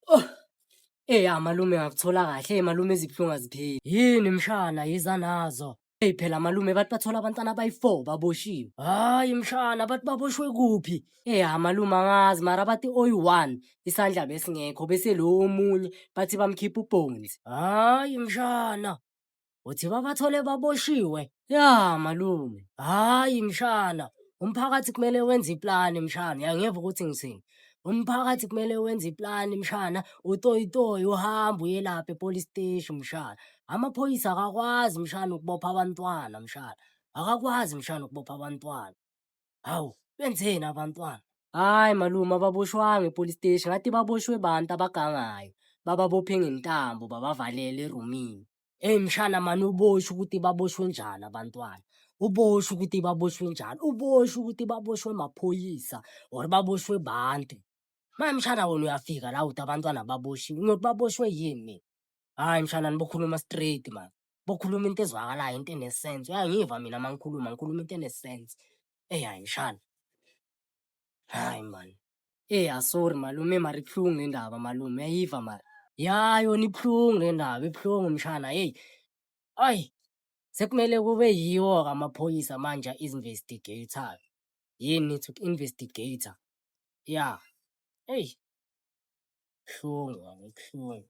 Oh. Ey amalume ngakuthola kahle, malume izibuhlungu azipheli. Yini mshana yiza nazo. Ey phela malume bathi bathola abantwana abayi-four baboshiwe. Hayi mshana bathi baboshwe kuphi? Ey amalume angazi mara bathi oyi-one isandla besingekho bese lo omunye bathi bamkhipha ubhonzi. Hayi mshana. uthi babathole baboshiwe ya malume hhayi mshana umphakathi kumele wenze iplani mshana uyangeva ukuthi ngithini umphakathi kumele wenze iplani mshana utoyitoyi uhambe uyelapha epolice steshi mshana amaphoyisa akakwazi mshana ukubopha abantwana mshana akakwazi mshana ukubopha abantwana hawu benzeni abantwana hhayi malume ababoshwanga epolice steshi ngathi baboshwe bantu abagangayo bababophe ngentambo babavalele erumini Eyi mshana mani uboshwe ukuthi baboshwe njani abantwana. Uboshwe ukuthi baboshwe njani. Uboshwe ukuthi baboshwe maphoyisa or baboshwe bantu. Manje mshana wena uyafika la uthi abantwana baboshiwe. Ngiyothi baboshwe yini mina? Hhayi mshana nibokhuluma straight mani. Bokhuluma into ezwakalayo, into enesense. Uyangiva mina uma ngikhuluma, ngikhuluma into enesense. Eyi hhayi mshana. Hayi man. Ey asorry malume mara ibuhlungu le ndaba malume uyayiva mara. Ya yona ibuhlungu le ndaba ibuhlungu mshana heyi. Ayi sekumele kube yiwo-ke amaphoyisa manje a-investigator-ke. Yini to investigator. Ya eyi. Ibuhlungu yona ibuhlungu.